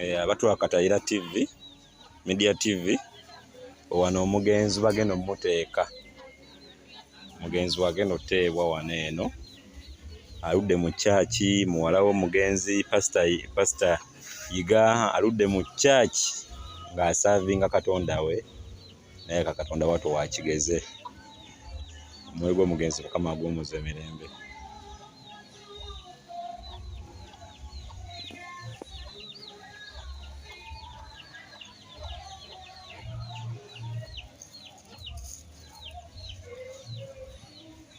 Eh, abatwakatayira tv media tv wano omugenzi bagenda omuteeka omugenzi wagenda oteebwa wano eno aludde mu kyaki muwala w'omugenzi pasita yiga aludde mu kyaki ng'asaavinga katonda we naye kakatonda watu wakigeze omwoyo gwomugenzi mukama aguwumuza emirembe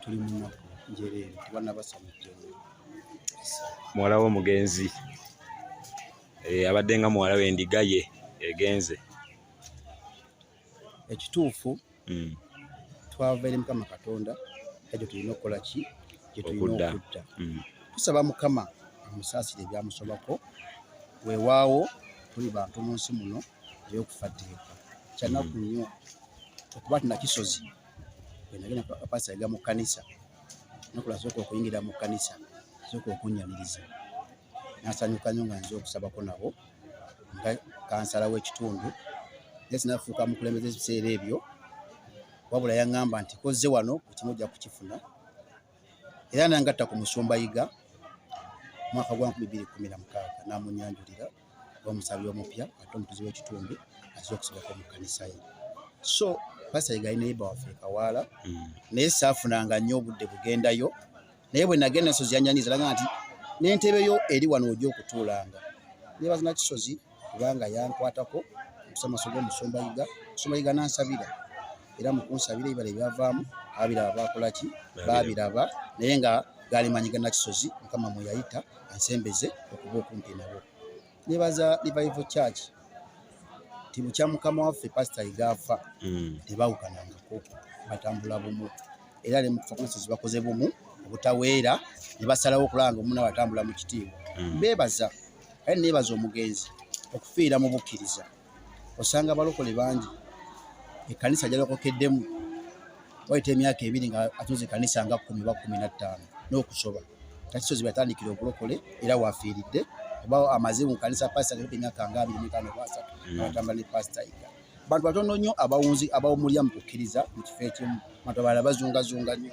tuli mu nnaku njereere tebanabasoma ejjoni muwala w'omugenzi eh, abadde nga muwala w'endiga ye egenze ekituufu hmm. twava eri mukama katonda ekyo tulina okukola ki gyetulina okudda hmm. tusaba mukama amusaasire ebyamusobako weewaawo tuli bantu mu nsi muno ey'okufa tteeka kyanaku hmm. nnyo okuba tinakisozi bwenagenda pasita yaga mu kkanisa nakula asooka okuyingira mu kkanisa asooka okunyaniriza nasanyuka nyo nga nze okusabako nabo nga kansala w'ekitundu naye sinafuuka mukulembeza ebiseera ebyo wabula yaŋŋamba nti kozze wano ekimu ojja kukifuna era nangatta ku musumba yiga mwaka gwa 2016 namunyanjulira omusabi omupya ate omutuzi w'ekitundu aza okusibako mu kkanisa ye so pasita yegali neiba waffe ekawaala hmm. naye saafunanga nnyo obudde bugendayo naye bwe nagenda ensozi yanyanyiza laga nti n'entebe yo eri wano ojja okutuulanga nebazina kisozi kubanga yankwatako okusamaso g'omusumba yiga omusumba yiga nansabira era mukunsabira ebibala ebyavaamu abiraba bakolaki babiraba naye nga galimanyi ganakisozi mukama mweyayita ansembeze okuba okumpi nabo nebaza revival church nti bukya mukama waffe pasita igaafa hmm. tebawukanangako batambula bumu era ne mufakulisisi bakoze bumu obutaweera ne basalawo okulanga omuna watambula mu kitiibwa hmm. bebaza kale nebaza omugenzi okufiira mu bukkiriza osanga abalokole bangi ekkanisa gyalokokeddemu wayita emyaka ebiri nga atunze ekkanisa nga kumi oba kumi na ttaano n'okusoba takisozi byatandikira obulokole era wafiiridde oba amaze mu kanisa pasita nga emyaka nga abiri mitaano oba asatu hmm. atamba ne pasita ika bantu batono nnyo abawunzi abawumulya mu kukkiriza mu kifo ekimu bantu abalala bazungazunga nnyo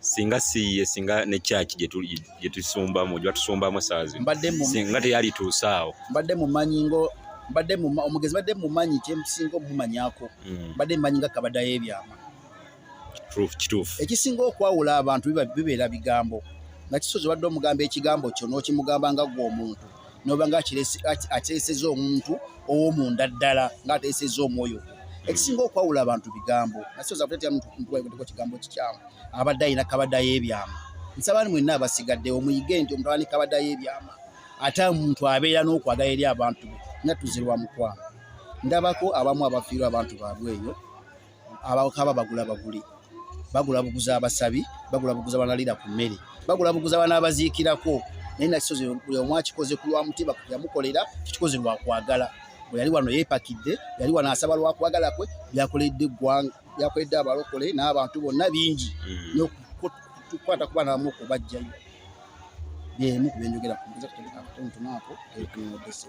singa siye singa ne church gye tusumbamu gye batusumbamu essaawa zino singa teyalituuse awo mbadde mumanyi ngo mbadde omugezi mbadde mumanyi kyemusinga omumanyako hmm. mbadde mumanyi nga kabadayo ebyama kituufu ekisinga okwawula abantu bibeera bigambo nga kisozi obadde omugamba ekigambo kyo n'okimugamba nga gwe omuntu noba nga ateeseza omuntu owomunda ddala nga ateeseza omwoyo gwe ekisinga okwawula abantu bigambo nasoza kutetera mutugwaeko kigambo kikyamu abadde alina kabadayo ebyama nsaba ni mwenna abasigaddewo muyige nti omuntu abani kabadayo ebyama ate omuntu abeera n'okwagala eri abantu be nga tuzirwa mukwano ndabako abamu abafiirwa abantu baabwe eyo abakaba bagula baguli bagula buguza abasabi bagula buguza banalira ku mmere bagula buguza banabaziikirako naye nakisozi buli omu akikoze ku lwa mutima yamukolera tukikoze lwa kwagala bwe yali wano yeepakidde yali wano asaba lwa kwagala kwe byakoledde eggwanga byakoledde abalokole n'abantu bonna bingi mm. n'okukwata ku baana bamu okubajjayo byemu ku byenjogera ku mbuza kuteekakutuntunaako ekunodese